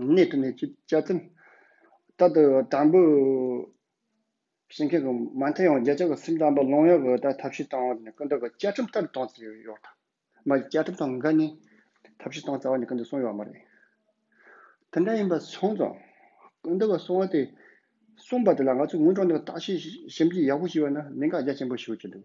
གནད་དུ་མེད་ཅེས་བཅའ་ཚུལ་ལྟར་དུ་དྲང་པོ་བྱེད་མཁན་གྱི་མ་མཐའ་ཡང་རྒྱ་ཆེ་བ་སེམས་དྲང་པོ་ལོང་ཡོད་པའི་ཐབས་ཤེས་གཏོང་བ་ནི་སྐུ་མདོག་གི་བཅའ་ཁྲིམས་ལྟར་གཏོང་རྩིས་ཡོད་ཡོད་དང་མ་ཡི་བཅའ་ཁྲིམས་དང་འགལ་ནས་ཐབས་ཤེས་གཏོང་རྩ་བ་ནི་སྐུ་མདོག་གསུང་ཡོད་མ་རེད། དེ་འདྲ་ཡིན་པ་སོང་ཙང་སྐུ་མདོག་གི་གསུང་བ་དེ་གསུངས་པ་དེ་ལ་ང་ཚོས་ངུ་བྲོ་འདི་ལ་བརྟག་དཔྱད་ཞིབ་འཇུག་ཡག་པོ་བྱས་པ་ན་གནད་འགག་རྒྱ་ཆེན་པོ་ཞིག་ཡོད་ཀྱི་འདུག།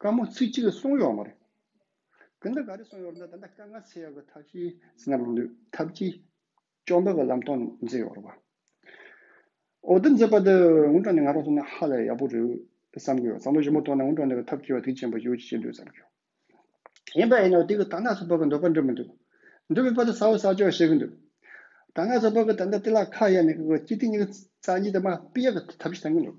དཀའ་མོ་ཚིག་གཅིག་གིས་སོང་ཡོག་མ་རེད། དེ་འདྲ་ག་རེ་སོང་ཡོག་རེད་ད་ད་དཀའ་ངལ་སེལ་ཡོག་གི་ཐབས་ཤེས་ཟིན་ན་རུང་དུས་ཐབས་ཀྱིས་ཅོག་འདོག་གི་ལམ་སྟོང་མཛད་ཡོག་རེད་བ། འོ་འདི་མཛད་པ་འདི་སྔོན་གྲངས་ནས་ང་རང་སོང་ན་ཧ་ལས་ཡག་པོ་རེད་བསམ་གྱི་ཡོག་བསམ་བློ་ཞིབ་མོ་གཏོང་ན་སྔོན་གྲངས་ནས་གི་ཐབས་སྐྱེལ་བ་དེ་ཅན་པ་ཡོད་ཅེས་བཤད་འདོད་བསམ་གྱི་ཡོག་ཡིན་པ་ཡིན་ནའོ་དེ་གི་ད་ནག་ཚོ་བག་གི་འདོད་པ་འགྲོ་མི་འདུག་འགྲོ་མི་པ་དེ་ས་བོ་ས་ཅོག་བཤད་གི་འདུག་ད་ནག་ཚོ་བག་གི་ད་ལྟ་དེ་ལ་ཁ་གཡར་ནས་གི་གི་སྤྱི་ཐིང་གི་ཚགས་གཉིས་དེ་མ་སྤི་ཡག་གི་ཐབས་ཤེས་བཏང་གི་འདུག།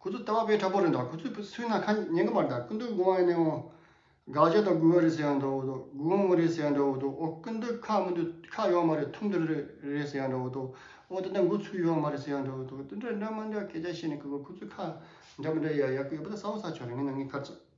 ཁུ་ཚུར་ལྟ་བ་དཔེ་ཁྲ་པོ་རེད་འདྲ་ཁུ་ཚུར་ཕུད་ན་ཁ་ཉན་གི་མ་རེད་འདྲ་ཀུན་འདུག་དགུང་བ་ནས་འོང། དགག་བྱ་དང་དགུ་བ་རེད་ཟེར་ཡག་འདྲ་བོ་འདུག་དགུ་བ་མོ་རེད་ཟེར་ཡག་འདྲ་བོ་འདུག་ཨོ་ཀུན་འདུག་ཁ་མི་འདུག་ཁ་ཡོད་མ་རེད་ཐུམ་འདུག་རེད་ཟེར་ཡག་འདྲ་བོ་འདུག་ཨོ་ད་ལྟ་འགོ་ཚུགས་ཡོད་མ་རེད་ཟེར་ཡག་འདྲ་བོ་འདུག་དེ་འདྲ་འདྲ་མ་འདྲ་སྐད་ཆ་བཤད་ནས་ཁུ་ཚུར་ཁ་འདྲ་མི་འདྲ་ཡག་ཡག་གི་ཡོད་པ་ད་ས་བོ་ས་ཆོག་རེད་ངས་ནང་གི་ཁ་རྩོད།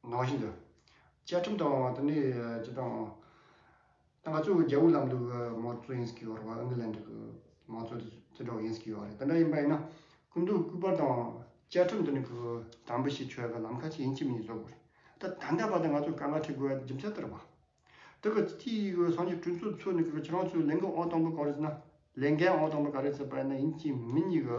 ནང་བཞིན་དུ། བཅའ་ཁྲིམས་དང་དེ་ནས་སྤྱི་དང། ད་ག་ཚོད་རྒྱ་བོད་ལམ་ལུགས་ཀྱི་མང་གཙོ་ཡིན་ཟེར་གི་ཡོད་རེད་བ་ཨིང་གི་ལན་འདྲ་གི་མང་གཙོ་དེ་དེ་འདྲ་བ་ཡིན་ཟེར་གི་ཡོད་རེད་དེ་འདྲ་ཡིན་པ་ཡིན་ན་སྐུ་མདོག་སྐུ་པར་དང་བཅའ་ཁྲིམས་དེ་ནས་གི་དམ་འབུལ་བྱེད་ཆོག་གི་ལམ་ཁ་ཅིག་ཡིན་གཅིག་མིན་བཟོ་དགོས་རེད་ད་ད་ལྟ་བར་དུ་ང་ཚོ་དཀའ་ངལ་འཕྲད་དགོས་རྒྱུ་མཚན་དེ་རེད་བ། དེ་གི་སྤྱི་ཡི་གི་སང་ཉིན་གྲོས་ཚོགས་ཚོས་ནས་གི་ཁྱེད་རང་ཚོའི་ལས་འགན་ཨང་དང་པོ་ག་རེད་ཟེར་ན་ལས་འགན་ཨང་དང་པོ་ག་རེད་ཟེར་པ་ཡིན་ན་ཡིན་གཅིག་མིན་གཉིས་གི།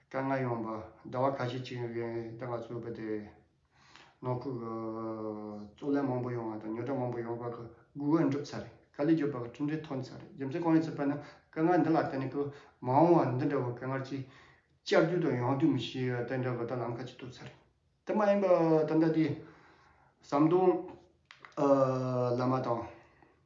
དཀའ་ངལ་ཡོང་བ་ཟླ་བ་ཁ་ཤས་ཅིག་རིང་ལྟ་ག་ཚོད་དཔག་དེ་ནང་ཁུལ་གྱི་རྩོད་གླེང་མང་པོ་ཡོང་བ་དང་ཉོ་སྒྲ་མང་པོ་ཡོང་བར་གྱི་སྒུག་འོས་འགྲུབ་ཚར་རེད་དཀའ་ལས་བརྒྱུད་པ་གྱི་གྲུབ་འབྲས་ཐོན་ཚར་རེད་རྒྱུ་མཚན་གང་ཡིན་ཚོད་དཔག་ན་དཀའ་ངལ་འདི་ལ་བརྟེན་ནས་ཀྱི་མ་འོང་བ་འདི་འདྲ་བའི་དཀའ་ངལ་ཅིག་བསྐྱར་དུས་དང་ཡང་དུས་མི་ཤེས་པ་དེ་འདྲ་བ་དག་ལམ་ཁ་ཅིག་ཐུབ་ཚར་རེད་དེ་མ་ཡིན་པ་ད་ལྟ་དེ་ཟམ་གདོང་བླ་མ་དང།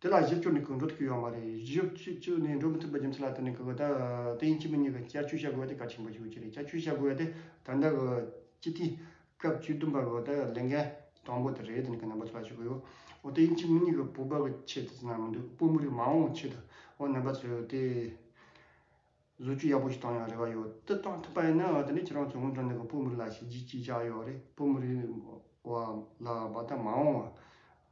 དེ་ལ་གཞི་བཅོལ་ནས་གང་འགྲོ་དེ་བསྐྱུར་ཡོང་བ་མ་རེད་གཞི་བཅོལ་ནས་འགྲོ་མི་ཐུབ་པ་རྒྱུ་མཚན་ལ་ལྟོས་ནས་གི་གི་ད་དེ་ཡིན་གཅིག་མིན་གཉིས་ཀ་བསྐྱར་བཅོས་བྱ་དགོས་པ་དེ་གལ་ཆེན་པོ་ཞིག་ཡོད་ཀྱི་རེད་བསྐྱར་བཅོས་བྱ་དགོས་པ་དེ་ད་ལྟ་གི་སྤྱི་འཐུས་སྐབས་བཅུ་བདུན་པ་གི་ད་ལས་འགན་དང་པོ་དེ་རེད་དེ་ནས་གི་ནན་པོ་ཚོད་ལ་ཞུ་གི་ཡོད་འོ་དེ་ཡིན་གཅིག་མིན་གཉིས་ཀ་བོད་པ་གི་ཆེད་དུ་ན་མི་འདུག་བོད་མི་རིགས་མ་འོངས་ཀྱི་ཆེད་དུ་འོ་ནན་པ་ཚོས་དེ་བཟོ་བཅོས་ཡག་པོ་ཞིག་བཏང་ཡོང་རེ་བ་ཡོད་དེ་བཏང་ཐུབ་པ་ཡིན་ན་དེ་ནས་ཁྱེད་རང་ཚོས་སྔོན་འགྲོ་ནས་གི་བོད་མི་རིགས་ལ་བྱས་རྗེས་ཅིག་ཆགས་ཡོད་རེད་བོད་མི་རིགས་བ་ལ་བ་ད་མ་འོངས་བ